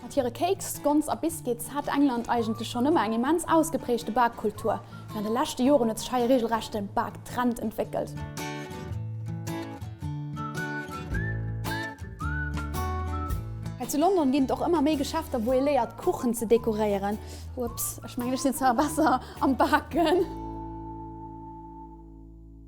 Mat hire Kéiks, Scones a Biscuits hat England eigentlech schonn ëmmer eng immens ausgeprägte Bakkultur, mee an de leschte Joren huet sech hei e reegelrechte Baktrend entwéckelt. Hei zu London ginn et och ëmmer méi Geschäfter, wou ee léiert, Kuchen ze dekoréieren. Ups, ech mengen, ech sinn zwar besser am Baken.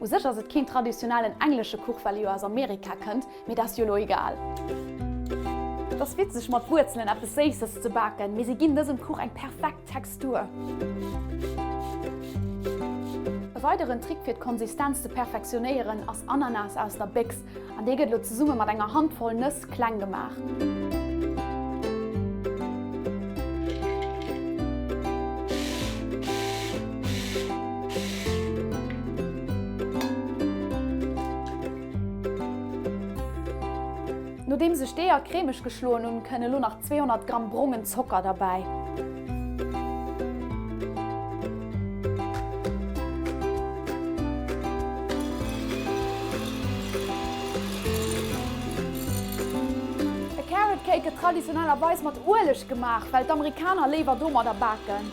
U sech ass et keen traditionellen englesche Kuch, well e jo aus Amerika kënnt, mee dat ass jo elo egal. Et ass witzeg mat Wuerzelen eppes Séisses ze baken, mee si ginn dësem Kuch eng perfekt Textur. E weideren Trick fir d'Konsistenz ze perfektionéieren ass Ananas aus der Béchs. An dee gëtt elo zesumme mat enger Handvoll Nëss kleng gemaach. Nodeem sech d'Eeër cremeg geschloen hunn, kënne elo nach 200 Gramm brongen Zocker derbäi. E Carrot Cake gëtt traditionellerweis mat Ueleg gemaach, well d'Amerikaner léiwer domadder baken.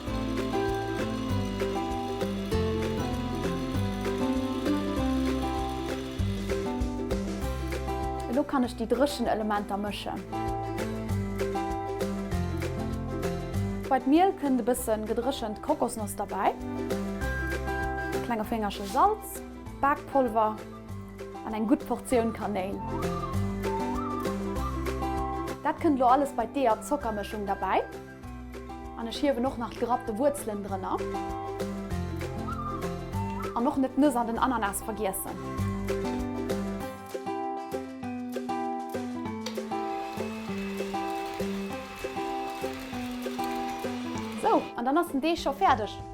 Elo kann ech déi dréchen Elementer mëschen. Bei d'Miel kënnt e bëssen gedréchent Kokosnoss derbäi, e klenge Féngerche Salz, Bakpolver an eng gutt Portioun Kanéil. Dat kënnt elo alles bei d'Ee a Zockermëschung derbäi. An ech hiewen och nach d'gerappte Wuerzelen drënner. An och net d'Nëss an den Ananas vergiessen. Sou, an dann ass den Deeg scho fäerdeg.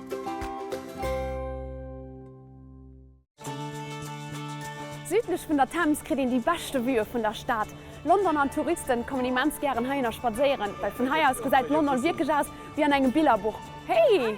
Südlech vun der Thames kritt een déi beschte Vueë vun der Stad London an d'Touristen kommen immens gären heihinner spadséieren, well vun hei aus gesäit London wierklech aus wéi an engem Billerbuch. Hey!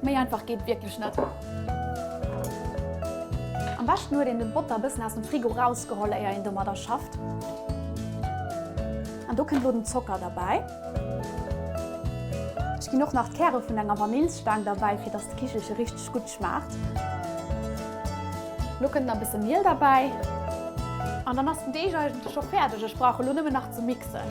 Méi einfach geet wierklech net. Am beschten huet een den Botter bëssen aus dem Frigo rausgeholl éier een domadder schafft. An do kënnt lo den Zocker derbäi. Ech ginn och nach d'Käre vun enger Vanillsstaang derbäi fir dass d'Kichelche richteg gutt schmaacht. Lo kënnt nach bësse Miel derbäi. An dann ass den Deeg eigentlech scho fäerdeg, ech brauche lo nëmmen nach ze mixen.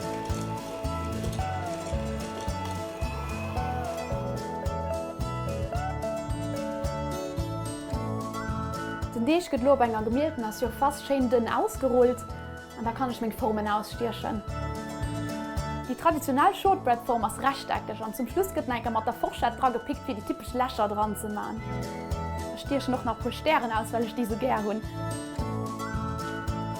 Den Deeg gëtt elo op enger gemieltener Surface schéin dënn ausgerullt an da kann ech meng Formen ausstiechen. Déi traditionell Shortbread-Form ass rechteckeg an zum Schluss gëtt en enker mat der Forschett dra gepickt fir déi typesch Lächer dran ze man. Ech stiechen och nach e puer Stären aus, well ech déi sou gär hunn.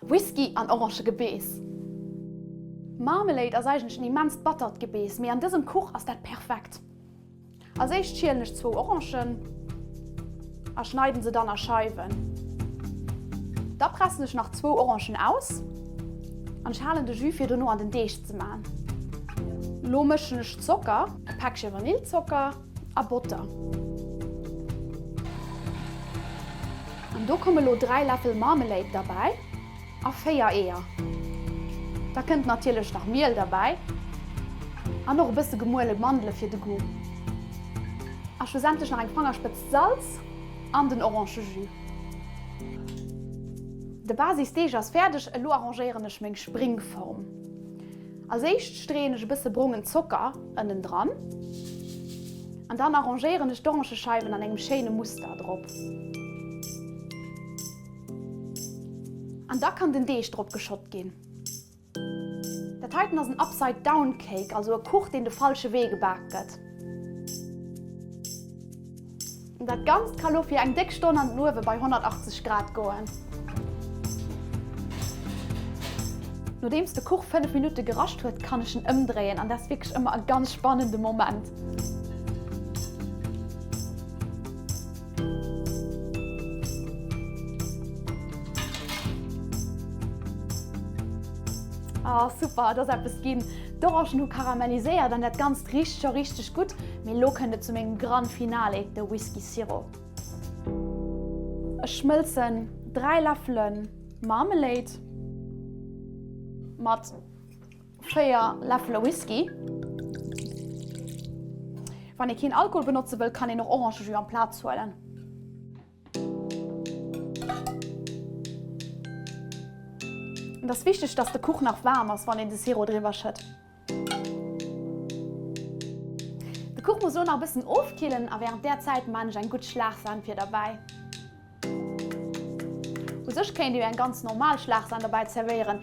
Whisky an Orangegebeess. Marmalade ass eigentlech en immenst battert Gebeess, mee an dësem Kuch ass dat perfekt. Als éischt schielen ech zwou Orangen a schneiden se dann a Scheiwen. Da pressen ech nach zwou Orangen aus an ech halen de Jus fir dono an den Deeg ze man. Lo mëschen ech Zocker, e Päckche Vanillzocker. a Botter. An do komme lo 3 Läffel Marmelade derbäi a 4 Eeër. Da kënnt natierlech nach Miel derbäi an och e bësse gemuele Mandele fir de Goût. A schlussendlech nach eng Fangerspëtz Salz an den Orangejus. De Basisdeeg ass fäerdeg, elo arrangéieren ech meng Springform. Als éischt streeën ech e bësse brongen Zocker ënnen dran an dann arrangéieren ech d'Orangescheiwen an engem schéine Muster drop. An da kann den Deeg drop geschott ginn. Dat heiten ass en Upside Down Cake, also e Kuch deen de falsche Wee gebak gëtt. Dat Ganzt ka lo fir eng déck Stonn an den Uewe bei 180 Grad goen. Nodeems de Kuch 5 Minutte gerascht huet, kann ech en ëmdréien an dat ass wierklech ëmmer e ganz spannende Moment. Ah super, et ass eppes ginn! D'Orangen hu karamelliséiert an dat Ganzt richt scho richteg gutt. Mee lo kënnt et zu mengem Gran Finale, de Whisky Sirop. Ech schmëlzen 3 Läffele Marmelade mat 4 Läffele Whisky. Wann ee keen Alkohol benotze wëll, kann een och Orangejus amplaz huelen. Et ass wichteg, dass de Kuch nach waarm ass, wann een de Sirop driwwer schëtt. De Kuch muss elo nach e bëssen ofkillen a wärend där Zäit man ech eng gutt Schlagsahn fir derbäi. U sech kéint Dir jo eng ganz normal Schlagsahn derbäi zerwéieren,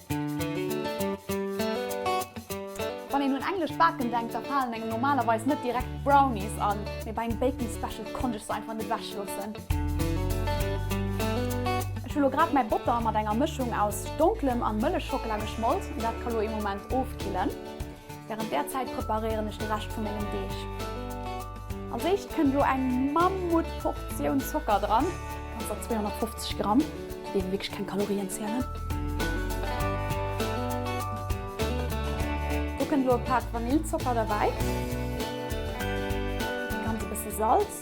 Wann een un englescht Baken denkt, da falen engem normalerweis net direkt d'Brownies an, mee bei engem Baking Special konnt ech se einfach net ewech loossen. Ech hu lo grad mäi Botter mat enger Mëschung aus donklem an Mëllechschockela geschmolt, dat ka lo ee Moment ofkillen. Während där Zäit preparéieren ech de Rescht vu mengem Deeg. Als éischt kënnt elo eng Mammutportioun Zocker dran. Ganzer 250 Gramm, déi elo wierklech keng Kalorien zielen. Do kënnt elo e Pak Vanillzocker derbäi. Ganz e bësse Salz.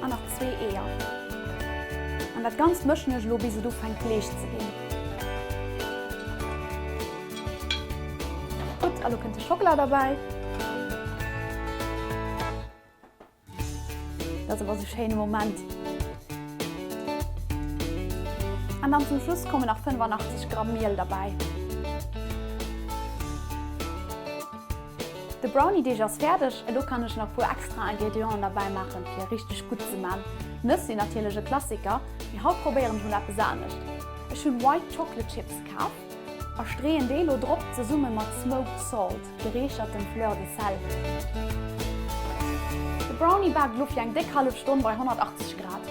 An nach zwee Eeër. An dat Ganzt mëschen ech elo bis et ufänkt leecht ze ginn. Gutt, a lo kënnt de Schockela derbäi. Dat ass awer sou schéine Moment. An dann zum Schluss kommen nach 85 Gramm Miel derbäi. De Browniedeeg ass fäerdeg, elo kann ech nach puer extra Ingredienten derbäi maachen fir e richteg gutt ze man. Nëss sinn natierlech e Klassiker, mee haut probéieren ech mol eppes anescht. Ech hunn White Chocolate Chips kaf a streeën déi elo drop zesummen mat Smoked Salt, gereechertem Fleur de Sel. De Brownie baakt elo fir eng déck hallef Stonn bei 180 Grad.